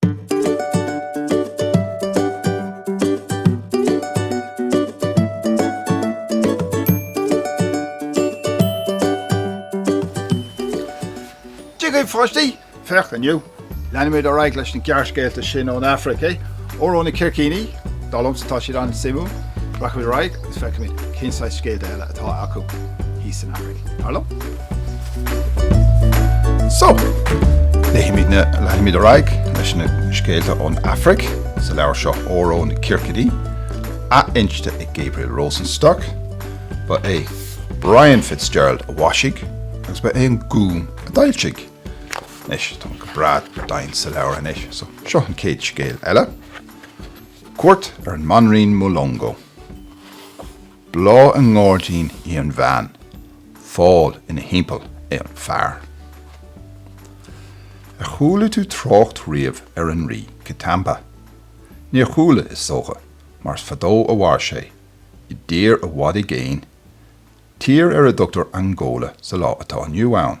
Dia dhaoibh pháistí! Féach inniu, leanfaimid ar aghaidh leis na gearrscéalta sin ón Afraic, é? Óró na Circíní? Dar liomsa tá siad an-suimiúil. Rachaimid ar aghaidh agus feicfimid cén saghas scéalta eile atá acu thíos san Afraic. Dar liom. So, leanfaimid ar aghaidh leis na scéalta ón Afraic sa leabhar seo Óró na Circíní, athinste ag Gabriel Rosenstock. Ba é Brian Fitzgerald a mhaisigh agus ba é an Gúm a d'fhoilsigh. Anois, tá mé go breá domhain sa leabhar anois, so seo an chéad scéal eile. Cuairt ar an mBanríon Mulongo! Bláth i ngáirdín í an bhean, fál ina thimpeall é an fear. Ar chuala tú trácht riamh ar an Rí Kitamba? Níor chuala, is dócha, mar is fadó a mhair sé, i dtír i bhfad i gcéin, tír ar a dtugtar Angóla sa lá atá inniu ann.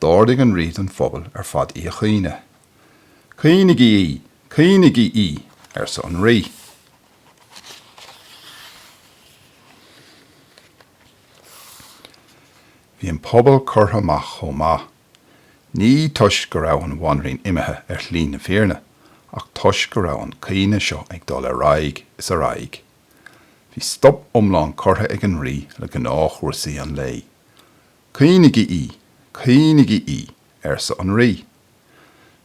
D'ordaigh an rí don phobal ar fad í a chaoineadh. Caoinigí í! Caoinigí í! arsa an rí. Bhí an pobal curtha amach chomh maith, ní toisc go raibh an bhanríon imithe ar shlí na fírinne, ach toisc go raibh an caoineadh seo ag dul ar aghaidh is ar aghaidh. Bhí stop iomlán curtha ag an rí le gnáthchúrsaí an lae. Caoinigí í! Caoinigí í! arsa an Rí.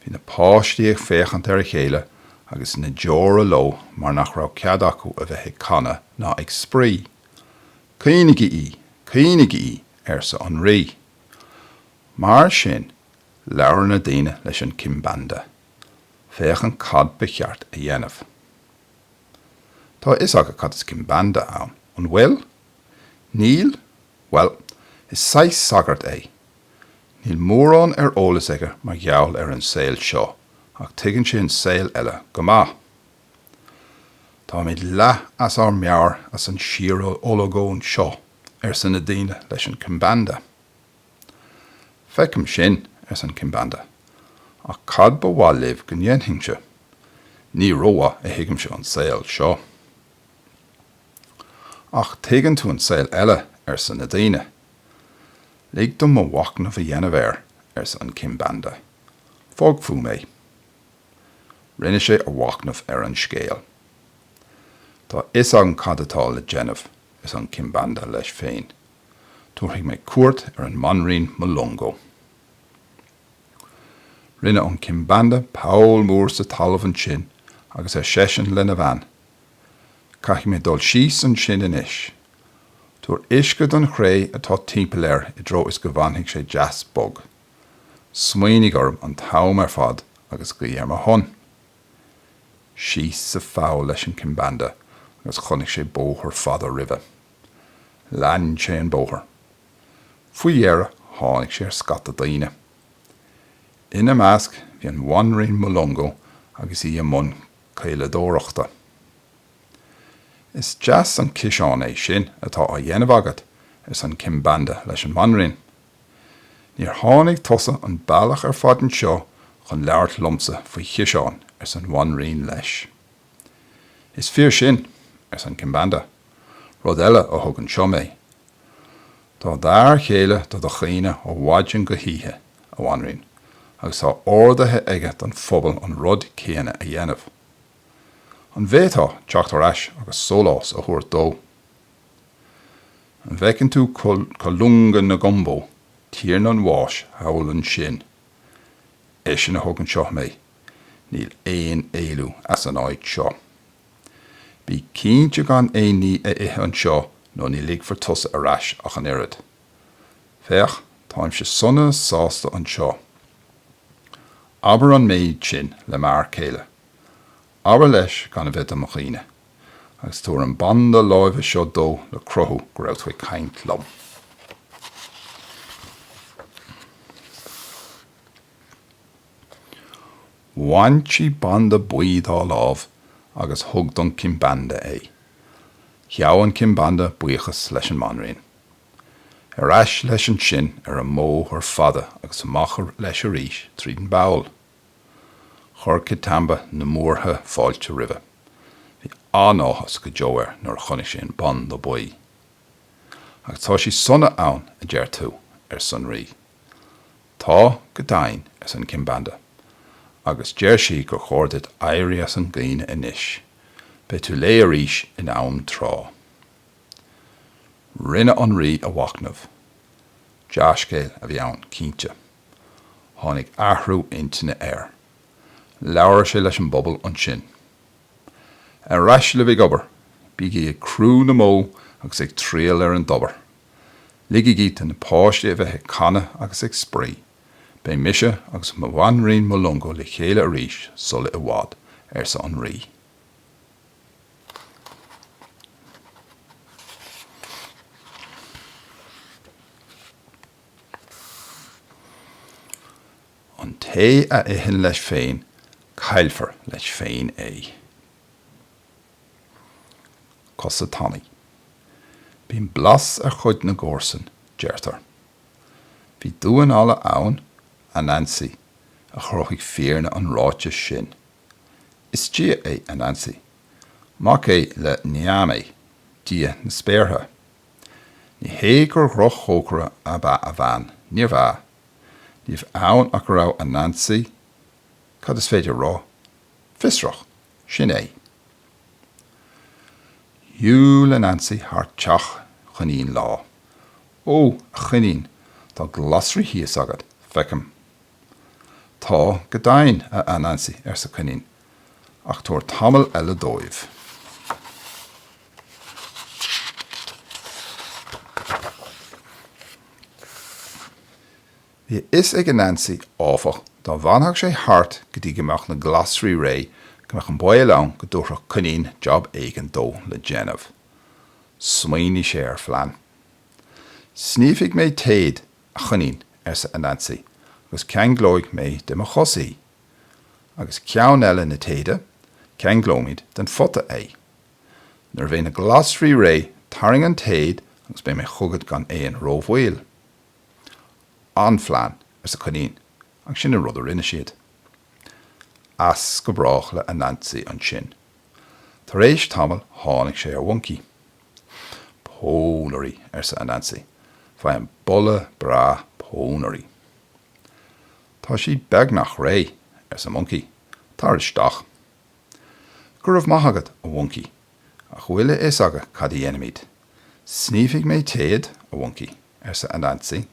Bhí na páistí ag féachaint ar a chéile agus na deora leo mar nach raibh cead acu a bheith ag canadh ná ag spraoi. Caoinigí í! Caoinigí í! arsa an Rí. Mar sin, labhair na daoine leis an Kimbanda. Féachaint cad ba cheart a dhéanamh. Tá a fhios agat cad is Kimbanda ann, an bhfuil? Níl, bhuel, is saghas sagart é. Níl mórán ar eolas aige mar gheall ar an saol seo, ach tuigeann sé an saol eile go maith. Táimid leath as ár meabhair as an síor-olagón seo, arsa na daoine leis an Kimbanda. Feicim sin, arsa an Kimbanda, ach cad ba mhaith libh go ndéanfainnse? Ní rómhaith a thuigimse an saol seo. Ach tuigeann tú an saol eile, arsa na daoine. Lig dom mo mhachnamh a dhéanamh air, arsa an Kimbanda. Fág fúm é. Rinne sé a mhachnamh ar an scéal. Tá fhios agam cad atá le déanamh, arsa an Kimbanda leis féin. Tabharfaidh mé cuairt ar an mBanríon Mulongo. Rinne an Kimbanda poll mór sa talamh ansin agus ar seisean lena bhean, Caithfidh mé dul síos ansin anois. Tabhair uisce don chré atá timpeall air i dtreo is go bhfanfaidh sé deas bog. Smaoinigh orm an t-am ar fad agus guigh ar mo shon. Síos sa pholl leis an Kimbanda agus chonaic sé bóthar fada roimhe. Lean sé an bóthar. Faoi dheireadh tháinig sé ar scata daoine. Ina measc bhí an Bhanríon Mulongo agus í i mbun caoladóireachta. Is deas an ciseán é sin atá á dhéanamh agat, arsan Kimbanda leis an mBanríon. Níor tháinig tusa an bealach ar fad anseo chun labhairt liomsa faoi chiseáin, arsan Bhanríon leis. Is fíor sin, arsan Kimbanda, rud eile a thug anseo mé. Tá d'fhear chéile do do chaoineadh ó mhaidin go hoíche, a Bhanríon, agus tá ordaithe aige don phobal an rud céanna a dhéanamh. An bhféadfá teacht ar ais agus sólás a thabhairt dó? An bhfeiceann tú Kalunga Ngombe, tiarna an bháis, thall ansin? Eisean a thug anseo mé. Níl aon éalú as an áit seo. Bí cinnte gan aon ní a ithe anseo nó ní ligfear tusa ar ais ach an oiread. Féach, táimse sona sásta anseo. Abair an méid sin le m'fhear céile. Abair leis gan a bheith do mo chaoineadh. Agus tabhair an banda láimhe seo dó le cruthú go raibh tú ag caint liom. Bhain sí banda buí dá lámh agus thug don Kimbanda é. Ghabh an Kimbanda buíochas leis an mBanríon. Ar ais leis ansin ar an mbóthar fada agus amach leis arís tríd an bpoll. Chuir Kitamba na múrtha fáilte roimhe. Bhí an-áthas go deo air nuair a chonaic sé an banda buí. Agus tá sí sona ann, a deir tú? arsa an Rí. Tá, go deimhin, arsan Kimbanda, agus deir sí gur chóir duit éirí as an gcaoineadh anois. Beidh tú léi arís in am tráth. Rinne an Rí a mhachnamh. Dea-scéal a bhí ann, cinnte. Tháinig athrú intinne air. Labhair sé leis an bpobal ansin. Ar ais libh ag obair! Bígí ag crú na mbó agus ag triall ar an dtobar! Ligigí do na páistí a bheith ag canadh agus ag spraoi. Beidh mise agus mo bhanríon Mulungu le chéile arís sula i bhfad, arsa an Rí. An té a itheann leis féin, caillfear leis féin é. cosa tanaí. Bíonn blas ar chuid na gcomharsan, deirtear. Bhí damhán alla ann, Anansi, a chruthaigh fírinne an ráitis sin. Is dia é Anansi. Mac é le Nyame, dia na spéartha. Ní hé gur dhroch-chócaire ab ea a bhean, níorbh ea. Níorbh ann ach go raibh Anansi, cad is féidir a rá? fiosrach. Sin é. Shiúil Anansi thar teach Choinín lá. Ó, a Choinín, tá glasraí thíos agat, feicim. Tá, go deimhin, a Anansi, arsa Coinín, ach tabhair tamall eile dóibh. Bhí a fhios ag Anansi, áfach, dá bhfanfadh sé thart go dtí go mbeadh na glasraí réidh, go mbeadh an baol ann go dtabharfadh Coinín job éigin dó le déanamh. Smaoinigh sé ar phlean. Sníomhfaidh mé téad, a Choinín, arsa Anansi, agus ceanglóidh mé de mo chos í. Agus ceann eile na téide, ceanglóimid den phota é. Nuair a bheidh na glasraí réidh, tarraing an téad agus beidh mé chugat gan aon rómhoill. An-phlean, arsa Coinín, agus sin an rud a rinne siad. As go brách le Anansi ansin. Tar éis tamaill tháinig sé ar Mhoncaí. Pónairí, arsa Anansi, faighim boladh breá pónairí. Tá siad beagnach réidh, arsa Moncaí, tar isteach. Go raibh maith agat, a Mhoncaí, ach bhfuil a fhios agat cad a dhéanfaimid? Sníomhfaidh mé téad, a Mhoncaí. arsa Anansi,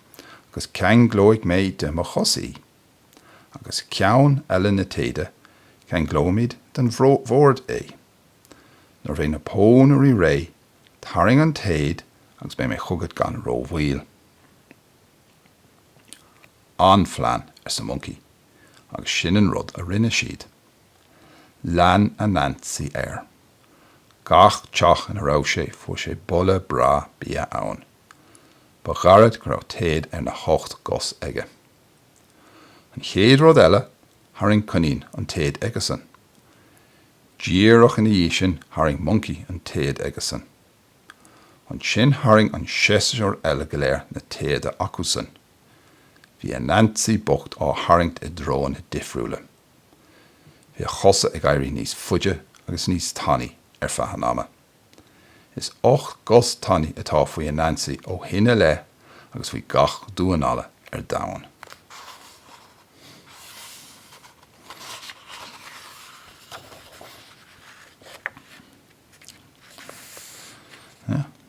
agus ceanglóidh mé de mo chos í. Agus ceann eile na téide, ceanglóimid den bhord é. Nuair a bheidh na pónairí réidh, tarraing an téad agus beidh mé chugat gan rómhoill. An-phlean, arsa Moncaí, agus sin an rud a rinne siad. Lean Anansi air. Gach teach ina raibh sé, fuair sé boladh breá bia ann. Ba ghairid go raibh téad ar na hocht gcos aige. An chéad rud eile tharraing coinín an téad aige-san. Díreach ina dhiaidh sin tharraing moncaí an téad aige-san. Ansin tharraing na hainmhithe eile go léir na téada acu-san. Bhí Anansi bocht á tharraingt i dtreoanna difriúla. Bhí a chosa ag éirí níos faide agus níos tanaí ar feadh an ama. Is ocht gcos tanaí atá faoi Anansi ó shin i leith agus faoi gach damhán alla ar domhan.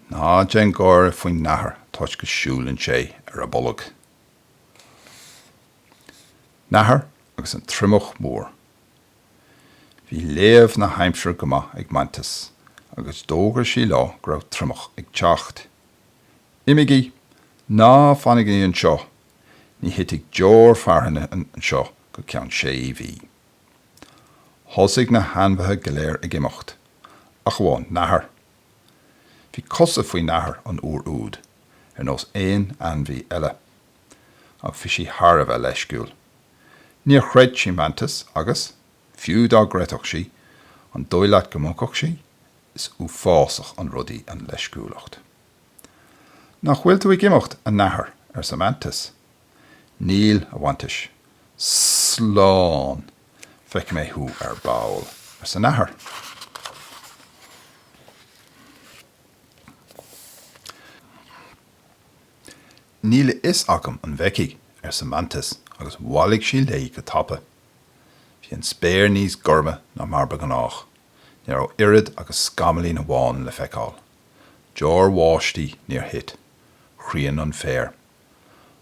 Ná déan gáire faoin nathair toisc go siúlann sé ar a bolg. Nathair agus an Triomach Mór. Bhí léamh na haimsire go maith ag Mantis agus d'fhógair sí leo go raibh triomach ag teacht. Imígí! Ná fanaigí anseo! Ní thitfidh deoir fearthainne anseo go ceann sé mhí! Thosaigh na hainmhithe go léir ag imeacht, ach amháin Nathair. Bhí cosa faoi Nathair an uair úd, ar nós aon ainmhí eile. ach bhí sí thar a bheith leisciúil. Níor chreid sí Mantis agus, fiú dá gcreidfeadh sí, an dóigh leat go mbogfadh sí? Is uafásach an rud í an leisciúlacht. 'Nach bhfuil tú ag imeacht, a Nathair? arsa Mantis. 'Níl, a Mhantis. 'Slán! Feicfidh mé thú ar ball, arsa Nathair. 'Níl a fhios agam an bhfeicfidh, arsa Mantis agus bhailigh sí léi go tapa. Bhí an spéir níos gorma ná mar ba ghnách, ní raibh oiread agus scamaillín amháin le feiceáil. Deoir bháistí níor thit. Chríon an féar.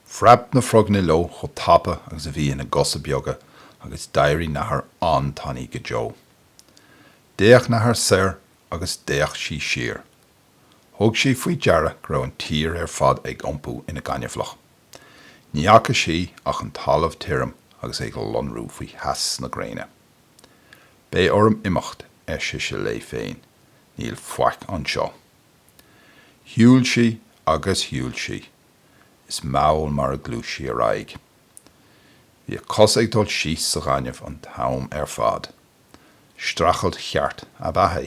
Phreab na froganna leo chomh tapa agus a bhí ina gcosa beaga agus d'éirigh nathair an-tanaí go deo. D'fhéach nathair soir agus d'fhéach sí siar. Thug sí faoi deara go raibh an tír ar fad ag iompú ina gaineamhlach. Ní fhaca sí ach an talamh tirim agus é ag lonrú faoi theas na gréine. Beidh orm imeacht, ar sise léi féin, níl faic anseo. Shiúil sí agus shiúil sí. Is mall mar a ghluais sí ar aghaidh. Bhí a cosa ag dul síos sa ghaineamh an t-am ar fad. Streachailt cheart ab ea é.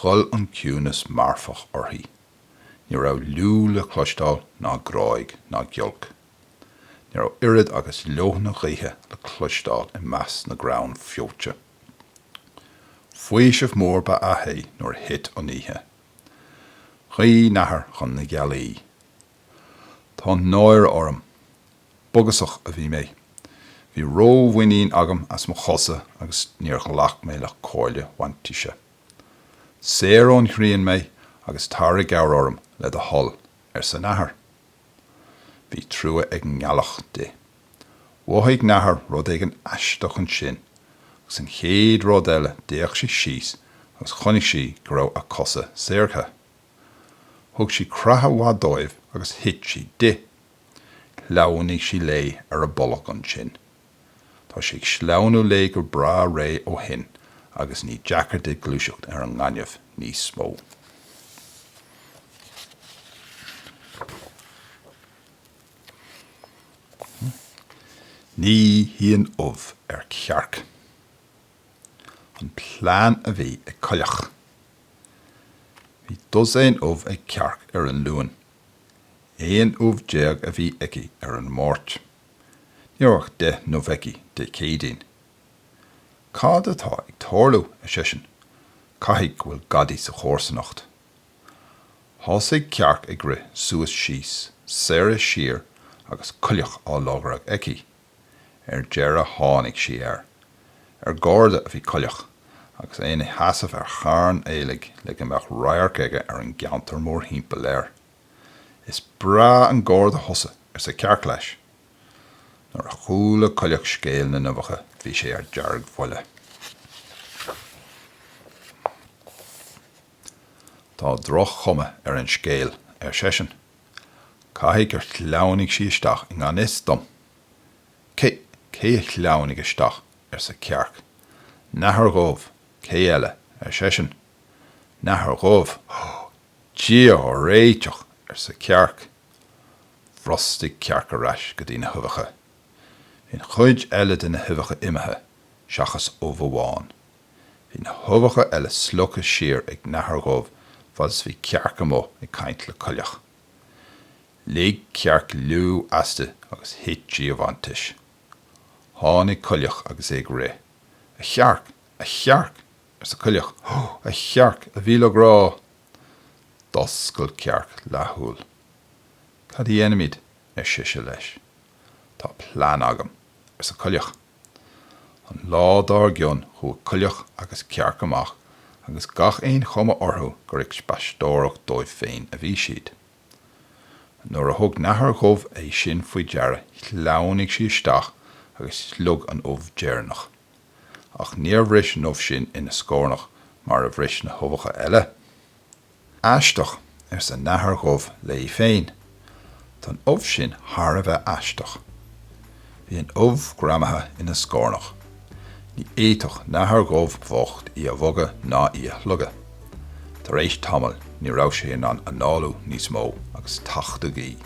Ghoill an ciúnas marfach uirthi. Ní raibh liú le cloisteáil ná gráig ná giolc. Ní raibh oiread agus leoithne gaoithe le cloisteáil i measc na gcrann feoite. Faoiseamh mór ba ea é nuair a thit an oíche. Ghuigh nathair chun na gealaí. Tá náire orm. Bogusach a bhí mé. Bhí ró-mhuinín agam as mo chosa agus níor ghlac mé le comhairle Mhaintíse. Saor ón ghrian mé agus tar i gcabhair orm le do thoil, arsa nathair. Bhí trua ag an ngealach di. Mhothaigh nathair rud éigin aisteach ansin agus an chéad rud eile d'fhéach sí síos agus chonaic sí go raibh a cosa saortha. Thug sí creathadh maith dóibh agus thit siad di. Shleamhnaigh sí léi ar a bolg ansin. Tá sí ag sleamhnú léi go breá réidh ó shin agus ní deacair di gluaiseacht ar an ngaineamh níos mó. Ní shuíonn ubh ar chearc. An plean a bhí ag coileach. Bhí dosaen ubh ag cearc ar an Luan Aon ubh déag a bhí aici ar an Máirt. Ní raibh ach deich n-ubh aici Dé Céadaoin. Cad atá ag tarlú, ar sise, caithfidh go bhfuil gadaí sa chomharsanacht. Thosaigh cearc ag rith suas síos, soir is siar agus coileach á lorg aici. Ar deireadh tháinig sí air. Ar garda a bhí coileach agus é ina sheasamh ar charn aoiligh le go mbeadh radharc aige ar an gceantar mórthimpeall air. Is breá an garda thusa, arsa Cearc leis. Nuair a chuala coileach scéal na n-uibheacha bhí sé ar deargbhuile. Tá droch-chuma ar an scéal, ar seisean. Caithfidh gur shleamhnaigh sí isteach i ngan fhios dom. Cé, cé a shleamhnaigh isteach? arsa Cearc. Nathair dhubh, cé eile, ar seisean. Nathair dhubh! Dia ár réiteach! arsa Cearc. Bhrostaigh Cearc ar ais go dtí na huibheacha. Bhí an chuid eile de na huibheacha imithe, seachas ubh amháin. Bhí na huibheacha eile slogtha siar ag nathair dhubh fad is bhí cearc amuigh ag caint le coileach. Lig cearc liú aisti agus thit sí i bhfanntais. Tháinig coileach agus é ag rith. A chearc! A chearc! arsa coileach. Hó! A chearc! A mhíle grá! D'oscail cearc leathshúil. Cad a dhéanfaimid? ar sise leis. Tá plean agam, arsa coileach. An lá dár gcionn chuaigh coileach agus cearc amach agus gach aon chuma orthu gur ag spaisteoireacht dóibh féin a bhí siad. Nuair a thug nathair dhubh é sin faoi deara shleamhnaigh sí isteach agus shloig an ubh deireanach. Ach níor bhris an ubh sin ina scornach mar a bhris na huibheacha eile. Aisteach, arsa nathair dhubh léi féin. Tá an ubh sin thar a bheith aisteach. Bhí an ubh greamaithe ina scornach. Ní fhéadfadh nathair dhubh bhocht í a bhogadh ná í a shlogadh. Tar éis tamaill ní raibh sé in ann análú níos mó agus tachtadh í.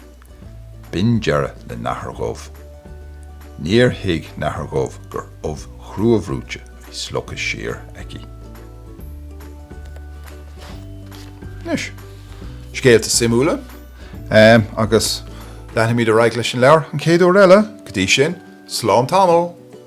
B'in deireadh le nathair dhubh. Níor thuig nathair dhubh gur ubh chruabhruite a bhí slogtha siar aici. Anois, scéalta suimiúla agus leanfaimid ar aghaidh leis an leabhar an chéad uair eile. Go dtí sin, slán tamall!